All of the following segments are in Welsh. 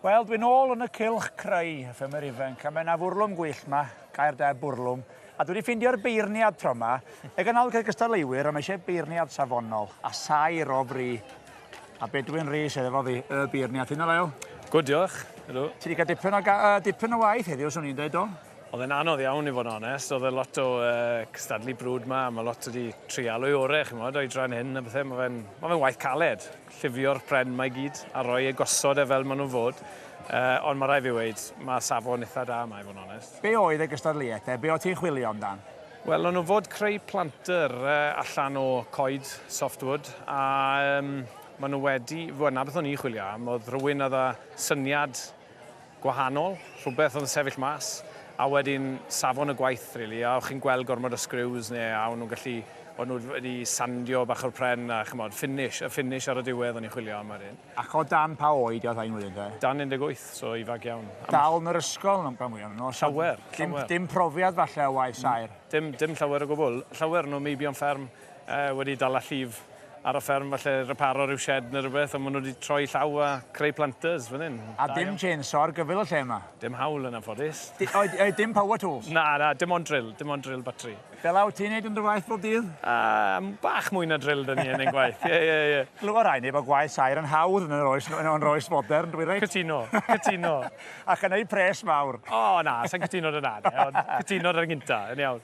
Wel, dwi'n ôl yn y cylch creu, y ffilmer ifanc, a mae yna fwrlwm gwyllt ma, gair da bwrlwm, a dwi wedi ffeindio'r beirniad tro ma, y ganol gyda gystadleuwyr, ond mae eisiau beirniad safonol, a sair o fri. A Bedwyn Rhys, efo fi, y beirniad, ti'n ddolael? Gwyd, diolch. Ydw. Ti wedi cael dipyn o, uh, dipyn o waith heddiw, swn i'n dweud, do? Oedd e'n anodd iawn i fod yn onest, oedd e lot o uh, cystadlu brwd ma, mae lot wedi trialu orau, chi'n modd, o'i dran hyn a bethau, mae fe'n ma fe waith caled. llifio'r pren mae gyd a roi e gosod e fel maen nhw'n fod, ond mae rhaid fi weud, mae safon eitha da yma i fod yn onest. Be oedd y gystadleuaeth te? Be oedd ti'n chwilio amdan? Wel, o'n nhw fod creu planter allan o coed softwood a maen nhw wedi, wel 'na beth o'n i'n chwilio am, oedd rhywun oedd â syniad gwahanol, rhywbeth oedd yn sefyll mas, a wedyn safon y gwaith rili, a o'ch chi'n gweld gormod o sgriws neu a o'n nhw'n gallu, o'n nhw wedi sandio bach o'r pren a ch'mod, ffinish, y ffinish ar y diwedd o'n i'n chwilio am wedyn. Ac o dan pa oed oedd rhain wedyn te? Dan 18, so ifanc iawn. Dal yn yr ysgol yn amcan fwya' o Llawer, llawer. Dim dim profiad falle o waith saer? Dim dim llawer o gwbwl, llawer o nhw maybe on fferm. Yy, wedi dala llif ar y fferm, falle reparo ryw shed neu rywbeth, ond ma' nhw wedi troi llaw a creu planters fan hyn. A Da dim iawn. chainsaw ar gyfer y lle 'ma? Dim haul yn anffodus. Di- oed- oed dim power tools? Na, na, dim ond drill, dim ond drill batri. Fel awt ti'n neud yn dy waith bob dydd? Yy, bach mwy na drill 'da ni yn ein gwaith, ie, ie, ie. Glywa rai ni bod gwaith saer yn hawdd yn yr oes, yn o'n oes fodern, dwi reit? Cytuno, cytuno. Ac yn eu pres mawr. O, na, sa'n cytuno 'da 'na de, ond cytuno 'da'r gynta, yn iawn.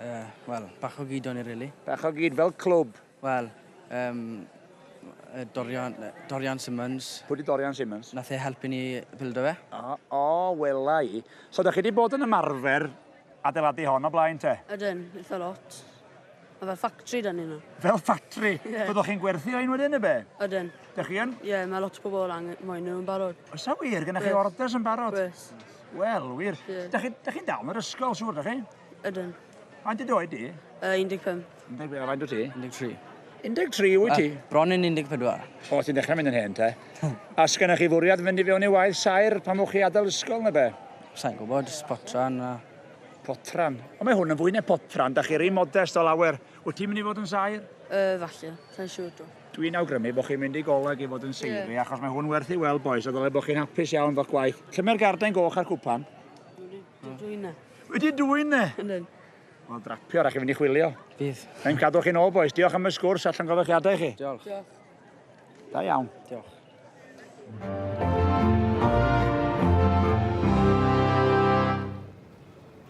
Ie, wel, bach o gyd o'n i rili. Bach o gyd fel clwb? Wel, yym, yy, Dorian, yy, Dorian Simmons. Pwy 'di Dorian Simmons? Nath e helpu ni bildo fe. O, o, wela i. So 'dych chi 'di bod yn ymarfer adeiladu hon o blaen te? Ydyn, eitha lot. Ma' fel ffactri 'da ni nawr. Fel ffactri? Ie. Byddwch chi'n gwerthu rhein wedyn ne' be'? Ydyn. Dych chi yn? Ie, ma' lot o pobol angen moyn nhw yn barod. Oes 'a wir? Gynnoch chi orders yn barod? Oes. Wel, wir. Ie. Dach chi, dach chi'n dal yn yr ysgol, siŵr, dach chi? Ydyn. Faint dy oed di? Uh, 15. 15, a faint o ti? 13. 13 wyt ti? Uh, bron yn 14. O, ti'n dechrau mynd yn hen te. a sgynna chi fwriad fynd i fewn i waith sair pan mwch chi adael ysgol neu be? Sa'n gwybod, spotran a... Potran. O, mae hwn yn fwy neu potran, da chi rei modest o lawer. Wyt ti'n mynd i fod yn sair? Uh, falle, sa'n siŵr dwi. Dwi'n awgrymu bod chi'n mynd i goleg i fod yn seiri, yeah. achos mae hwn werth i weld, boys, a ddylai bod chi'n hapus iawn fo'ch gwaith. Lle mae'r garden goch a'r cwpan? Wedi dwyne. Wedi dwyne? Yndyn. Wel, drapio, rhaid chi fynd i chwilio. Fydd. Mae'n cadw chi'n ôl, boys. Diolch am y sgwrs allan gofachiadau chi. Diolch. Diolch. Da iawn. Diolch.